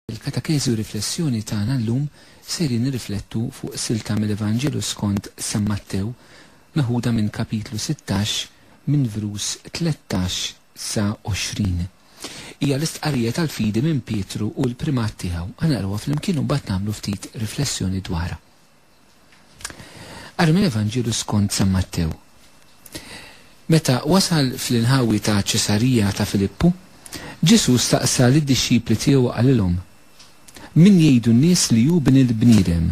Fil-Katakezi u Riflessjoni tagħna llum sejrin nirriflettu fuq silta mill-Evanġelu skont San Mattew meħuda minn Kapitlu sittax minn vrus tlettax sa għoxrin. Hija l-istqarrija tal-fidi minn Pietru u l-primat tiegħu. Ħa naqrawha flimkien u mbagħad nagħmlu ftit riflessjoni dwarha. Ara mill-Evanġelju skont San Mattew. Meta wasal fl-inħawi ta' Ċesarija ta' Filippu, Ġesù staqsa lid-dixxipli tiegħu u qalilhom, Min jgħidu n-nies li hu Bin il-bniedem?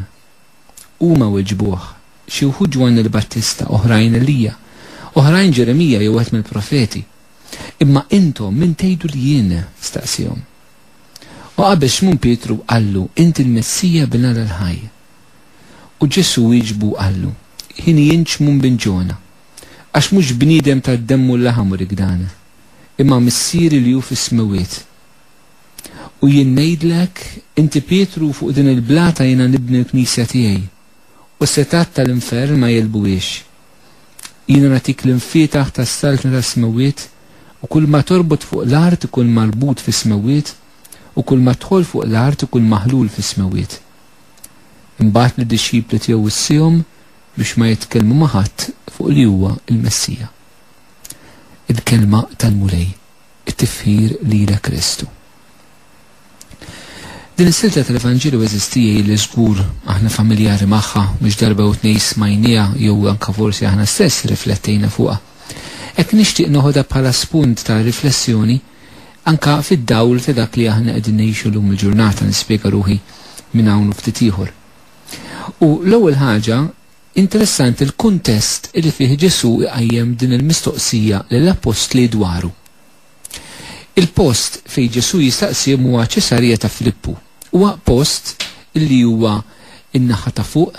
Huma weġbuh, Xi wħud Ġwann il-Battista, oħrajn Elija, oħrajn Ġeremija jew wieħed mill-profeti. Imma intom min tgħidu li jien? staqsiehom. U qabel Xmun Pietru qallu, Inti l-Messija Bin Alla l-ħaj. U Ġesù wieġbu u qallu, Hieni jien Ċmun bin Ġona. Għax mhux bniedem ta d-demm u l-laħam urik dan, imma Missieri li hu fis-smewwiet. U jien ngħidlek, inti Pietru u fuq din il-blata jiena nibni l-Knisja tiegħi, u s-setgħat ta' l-infern ma jegħlbuhiex. Jiena nagħtik l-imfietaħ tas-saltna tas-smewwiet, u kulma torbot fuq l-art ikun marbut fis-smewwiet, u kulma tħoll fuq l-art ikun maħlul fis-smewwiet. Imbagħad lid-dixxipli tiegħu wissiehom biex ma jitkellmu ma' ħadd fuq li huwa l-Messija. Il-kelma tal-Mulej, it-tifħir lilek Kristu. Din is-silta tal-Evanġelju eżisti li żgur aħna familjari magħha mhux darba u tnej smajnija jew anke forsi aħna stess riflettejna fuqha. Hekk nixtieq noħodha bħala spunt ta' riflessjoni Anke fid-dawl ta' dak li aħna qegħdin ngħixu llum il-ġurnata, nispjega ruħi minn hawn u ftit ieħor. U l-ewwel ħaġa, interessanti l-kuntest li fih Ġesù iqajjem din il-mistoqsija lill-appostli dwaru. Il-post fejn Ġesù jistaqsihom huwa Ċesarija ta' Filippu. Huwa post li huwa in-naħa ta' fuq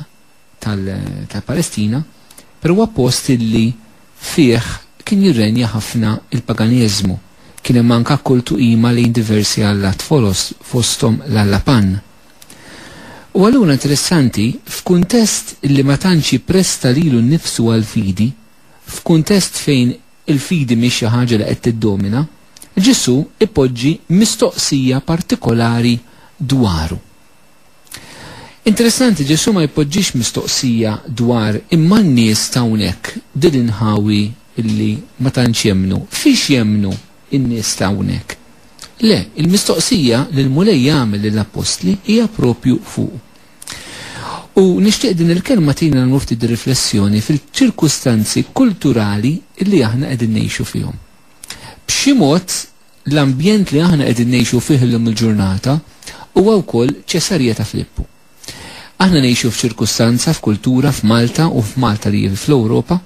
tal-Palestina, però huwa post illi fih kien jirrenja ħafna il-paganiżmu. Kien hemm anka kultu qima lejn diversi allat foloz fosthom l-alla Pan. U allura interessanti, f'kuntest illi ma tantx jippresta lilu nnifsu għall-fidi, f'kuntest fejn il-fidi mhix xi ħaġa li qed tiddomina, Ġesù ipoġġi mistoqsija partikolari dwaru. Interessanti, Ġesù ma jpoġġix mistoqsija dwar imma n-nies ta' hawnhekk, din l-inħawi li ma tantx jemmnu, fiex jemmnu n-nies ta' hawnhekk? Le, il-mistoqsija li l-Mulej jagħmel lill-appostli hija proprju fuq. U nixtieq din il-kelma tgħin nagħmlu ftit riflessjoni fil-ċirkustanzi kulturali li aħna qegħdin ngħixu fihom. B'xi mod L-ambjent li aħna qegħdin ngħixu fih illum il-ġurnata huwa wkoll Ċesarija ta' Filippu. Aħna ngħixu f'ċirkustanza, f'kultura, f'Malta u f'Malta li hi fl-Ewropa,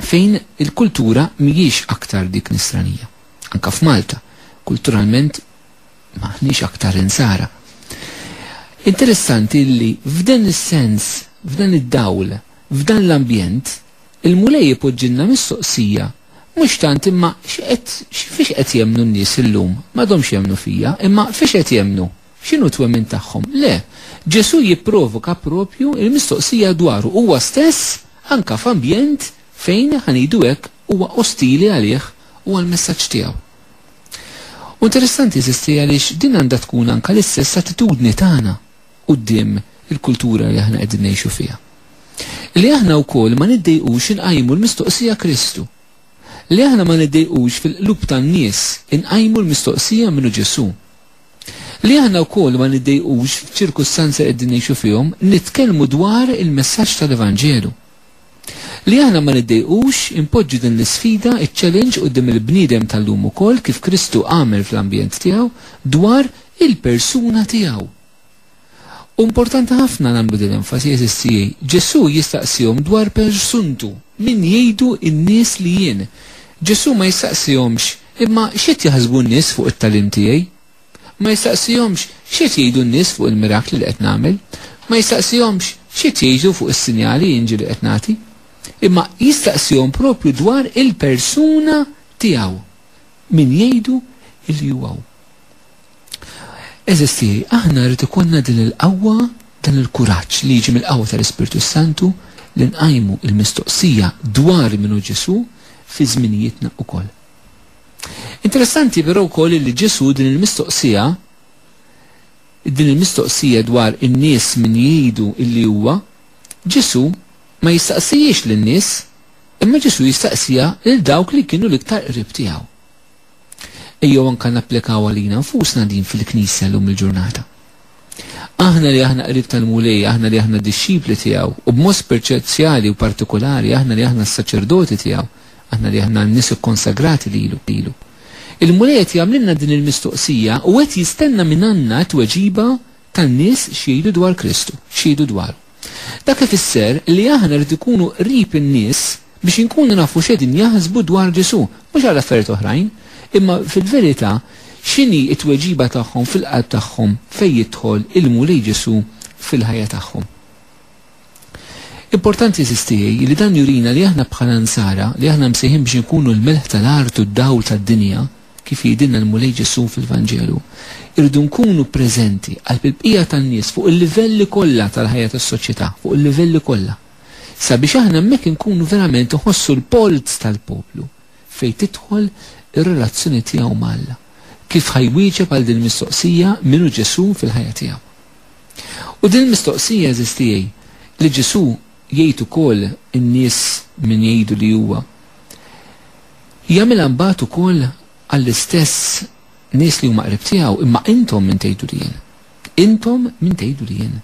fejn il-kultura mhijiex aktar dik nisranija. Anke f'Malta, kulturalment m'aħniex aktar insara. Interessanti li f'dan is-sens, f'dan id-dawl, f'dan l-ambjent, il-Mulej ipoġġilna mistoqsija Mhux tant, imma x'qed, fiex qed jemmnu n-nies illum? M'għadhomx jemmnu fija, imma fiex qed jemmnu? X'inhu t-twemmin tagħhom? Le, Ġesù jipprovoka proprju l-mistoqsija dwaru huwa stess anke f'ambjent fejn, ħa ngħidu hekk, huwa ostili għalih u għall-messaġġ tiegħu. U interessanti, eżisti, għaliex din għandha tkun anke l-istess attitudni tagħna quddiem il-kultura li aħna qegħdin ngħixu fiha. Li aħna wkoll ma niddejqux inqajmu l-mistoqsija Kristu. Li aħna ma niddejqux fil-qlub tan-nies inqajmu l-mistoqsija minnu Ġesù. Li aħna wkoll ma niddejqux f'ċirkustanzi li qegħdin ngħixu fihom nitkellmu dwar il-messaġġ tal-Evanġelu. Li aħna ma niddejqux impoġġu din l-isfida iċ-challenge quddiem il-bniedem tal-lum ukoll kif Kristu għamel fl-ambjent tiegħu dwar il-persuna tiegħu. U importanti ħafna nagħmlu din l-enfasi, għeżież tiegħi. Ġesù jistaqsihom dwar persuntu, min jgħidu n-nies li jien? Ġesù ma jistaqsihomx, imma x'qed jaħsbu n-nies fuq it-tagħlim tiegħi? Ma jistaqsihomx, x'qed jgħidu n-nies fuq il-mirakli li qed nagħmel? Ma jistaqsihomx, x'qed jgħidu fuq is-sinjali inġi li qed nagħti? Imma jistaqsihom proprju dwar il-persuna tiegħu, min jgħidu li huwa hu? Għeżież tiegħi, aħna jrid ikollna din il-qawwa, dan il-kuraġġ li jiġi mill-qawwa tal-Ispirtu s-Santu li nqajmu l-mistoqsija dwar min hu Ġesù fi żminijietna wkoll. Interessanti però wkoll li Ġesù din il-mistoqsija din il-mistoqsija dwar in-nies min jgħidu illi huwa, Ġesù ma jistaqsijiex lin-nies, imma Ġesù jistaqsija lil dawk li kienu l-iktar qrib tiegħu. Ejjew anke napplikawha għalina nfusna din fil-Knisja llum il-ġurnata. Aħna li aħna qrib tal-Mulej, aħna li aħna d-dixxipli tiegħu, u b'mod speċjali u partikolari aħna li aħna s-saċerdoti tiegħu, aħna li aħna n-nies ikkonsagrati lilu, lilu. Il-Mulej qed jagħmlilna din il-mistoqsija u qed jistenna minn għandna t-tweġiba tan-nies x'jgħidu dwar Kristu, x'jgħidu dwaru. Dak ifisser li aħna rridu nkunu qrib in-nies biex inkunu nafu x'qegħdin jaħsbu dwar Ġesù, mhux għal affarijiet oħrajn, imma fil-verità x'inhi t-tweġiba tagħhom fil-qalb tagħhom fejn jidħol il-Mulej Ġesù fil-ħajja tagħhom. Importanti għażiż tiegħi li dan jurina li aħna bħala Nsara, li aħna msejħin biex inkunu l-melħ tal-art u d-dawl tad-dinja, kif jgħidilna l-Mulej Ġesù fil-Vanġelu, irridu nkunu preżenti qalb il-bqija tan-nies fuq il-livelli kollha tal-ħajja tas-soċjetà, fuq il-livelli kollha. Sabiex aħna hemmhekk inkunu verament iħossu l-polz tal-poplu fejn tidħol ir-relazzjoni tiegħu ma' Alla. Kif ħa jwieġeb għal din il-mistoqsija min hu Ġesù fil-ħajja tiegħu? U din il-mistoqsija għażiż tiegħi li Ġesù jgħid ukoll in-nies min jgħidu li huwa. Jagħmilha mbagħad ukoll għall-istess nies li huma qrib tiegħu, imma intom min tgħidu li jien? Intom min tgħidu li jien?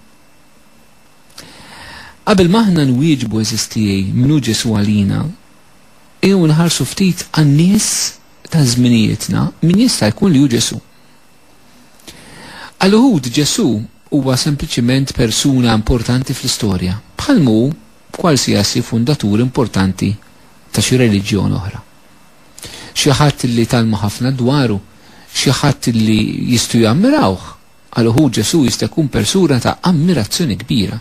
Qabel ma aħna nwieġbu eżis tiegħi min hu Ġesù għalina, ejjew nħarsu ftit għan-nies ta' żminijietna min jista' jkun li hu Ġesù. Għal uħud Ġesù huwa sempliċiment persuna importanti fl-istorja, bħal mu b'kwalsiasi fundatur importanti ta' xi reliġjon oħra. Xi ħadd li tgħallmu ħafna dwaru, xi ħadd li jistgħu jammirawh. Għal uħud Ġesù jista' jkun persuna ta' ammirazzjoni kbira.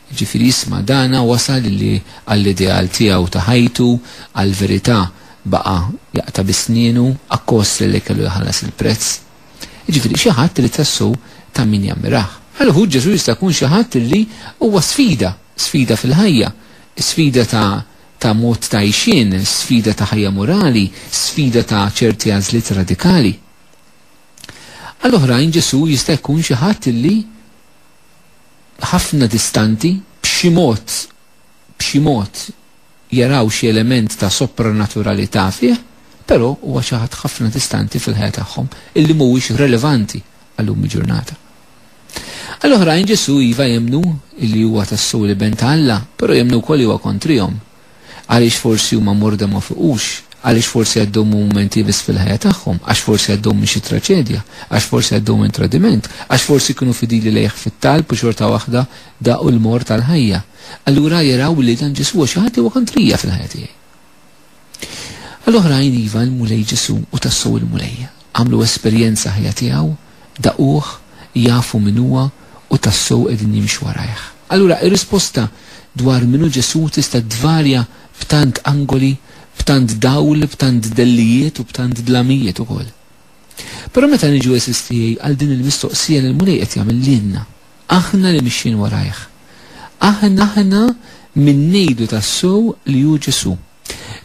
Jiġifieri jisma' dana wasal li għall-ideal tiegħu ta' ħajtu, għall-verità baqa' jaqta' bi snienu, akkostli li kellu jħallas il-prezz. Jiġifieri xi ħadd li tassew ta' min jammirah. Għal uħud Ġesù jista' jkun xi ħadd li huwa sfida. Sfida fil-ħajja, sfida ta' ta' mod ta' għixien, sfida ta' ħajja morali, sfida ta' ċerti għażliet radikali. Għal oħrajn Ġesù jista' jkun xi ħadd li ħafna distanti b'xi mod b'xi mod jaraw xi element ta' sopranaturalità fih, però huwa xi ħadd ħafna distanti fil-ħajja tagħhom illi mhuwiex relevanti għal lum il-ġurnata. Għal oħrajn Ġesù iva jemmnu li huwa tassew l-Iben ta' Alla, però jemmnu wkoll li huwa kontrihom. Għaliex forsi huma morda ma fuqux? Għaliex forsi għaddew minn mumenti ibies fil-ħajja tagħhom? Għax forsi għaddew minn xi traċedja? Għax forsi għaddew minn tradiment? Għax forsi kienu fidili lejh fit-talb u xorta waħda daqu l-mort tal-ħajja? Allura jaraw li dan Ġesù huwa xi ħadd li huwa kontrija fil-ħajja tiegħi. Għal oħrajn, iva, il-Mulej Ġesù hu tassew il-Mulej. Għamlu esperjenza ħajja tiegħu, daquh, jafu min huwa u tassew qegħdin jimxu warajh. Allura, ir-risposta dwar min hu Ġesù tista' tvarja b'tant angoli, b'tant dawl, b'tant dellijiet u b'tant dlamijiet ukoll. Però meta niġu, għeżież tiegħi, għal din il-mistoqsija li l-Mulej qed jagħmel lilna, Aħna li mixjin warajh. Aħna min ngħidu tassew li hu Ġesù.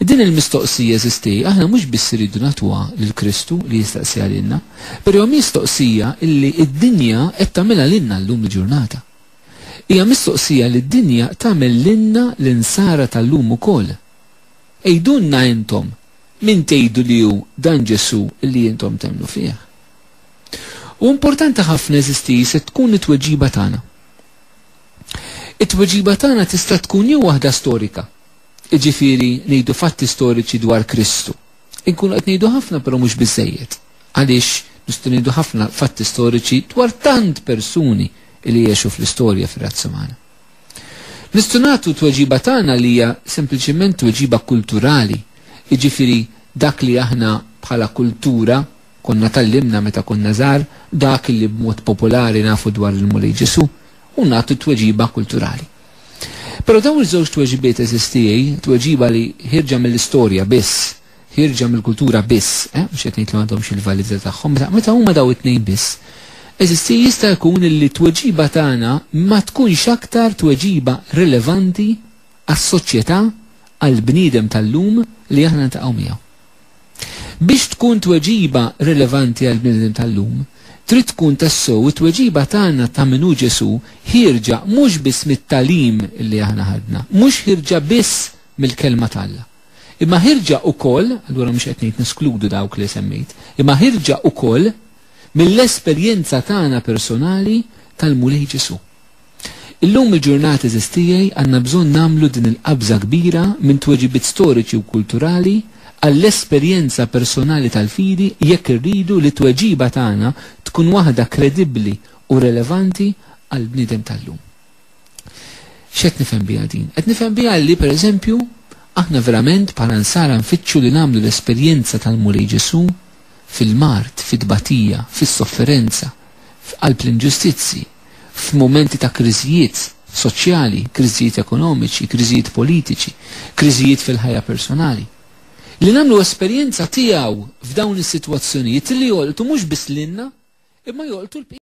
Din il-mistoqsija, eżistei, aħna mhux biss irridu nagħtuha lil Kristu li jistaqsiha lilna, però hija miostoqsija li d-dinja qed tagħmilha lilna llum il-ġurnata. Hija mistoqsija li d-dinja tagħmel lilna l-Insara ta' llum ukoll. Għidulna intom min tgħidu li hu dan Ġesù li intom temmnu fih. U importanti ħafna eżisti se tkun it-tweġiba tagħna. It-tweġiba tagħna tista' tkun jew waħda storika, jiġifieri ngħidu fatti storiċi dwar Kristu. Inkunu qed ngħidu ħafna però mhux biżżejjed. Għaliex nistgħu ngħidu ħafna fatti storiċi dwar tant persuni li jgħixu fl-istorja fir-razza magħna. Nistgħu nagħtu tweġiba tagħna li hija sempliċement tweġiba kulturali, jiġifieri dak li aħna bħala kultura Konna tgħallimna meta konna żgħar dak li b'mod popolari nafu dwar il-Mulej Ġesù u nagħtu t-tweġiba kulturali. Però dawn iż-żewġ tweġibiet eżistijej, tweġiba li ħierġa mill-istorja biss, ħierġa mill-kultura biss, eh, mhux qed ngħid li m'għandhomx il-validità tagħhom, meta, meta huma daw it-tnejn biss, eżistijej jista' jkun li t-tweġiba tagħna ma tkunx aktar tweġiba rilevanti għas-soċjetà għall-bniedem tal-lum li aħna ntaqgħu miegħu. Biex tkun tweġiba rilevanti għall-bniedem tal-lum, trid tkun tassew it-tweġiba tagħna ta' min hu Ġesù ħierġa mhux biss mit-tagħlim li aħna ħadna, mhux ħierġa biss mill-Kelma t'Alla, imma ħierġa wkoll, allura mhux qed ngħid neskludu dawk li semmejt, imma ħierġa wkoll mill-esperjenza tagħna personali tal-Mulej Ġesù. Illum il-ġurnata għeżież tiegħi għandna bżonn nagħmlu din il-qabża kbira minn tweġibiet storiċi u kulturali għall-esperjenza personali tal-fidi jekk irridu li t-tweġiba tagħna tkun waħda kredibbli u relevanti għall-bniedem tal-lum. X'qed nifhem biha din? Qed nifhem biha li, per eżempju, aħna verament bħala Nsara nfittxu li nagħmlu l-esperjenza tal-Mulej Ġesù fil-mard, fit-tbatija, fis-sofferenza, f'qalb l-inġustizzji, f'mumenti ta' kriżijiet soċjali, kriżijiet ekonomiċi, kriżijiet politiċi, kriżijiet fil-ħajja personali. Li nagħmlu esperjenza tiegħu f'dawn is-sitwazzjonijiet li jolqtu mhux biss lilna imma jolqtu l-bqija.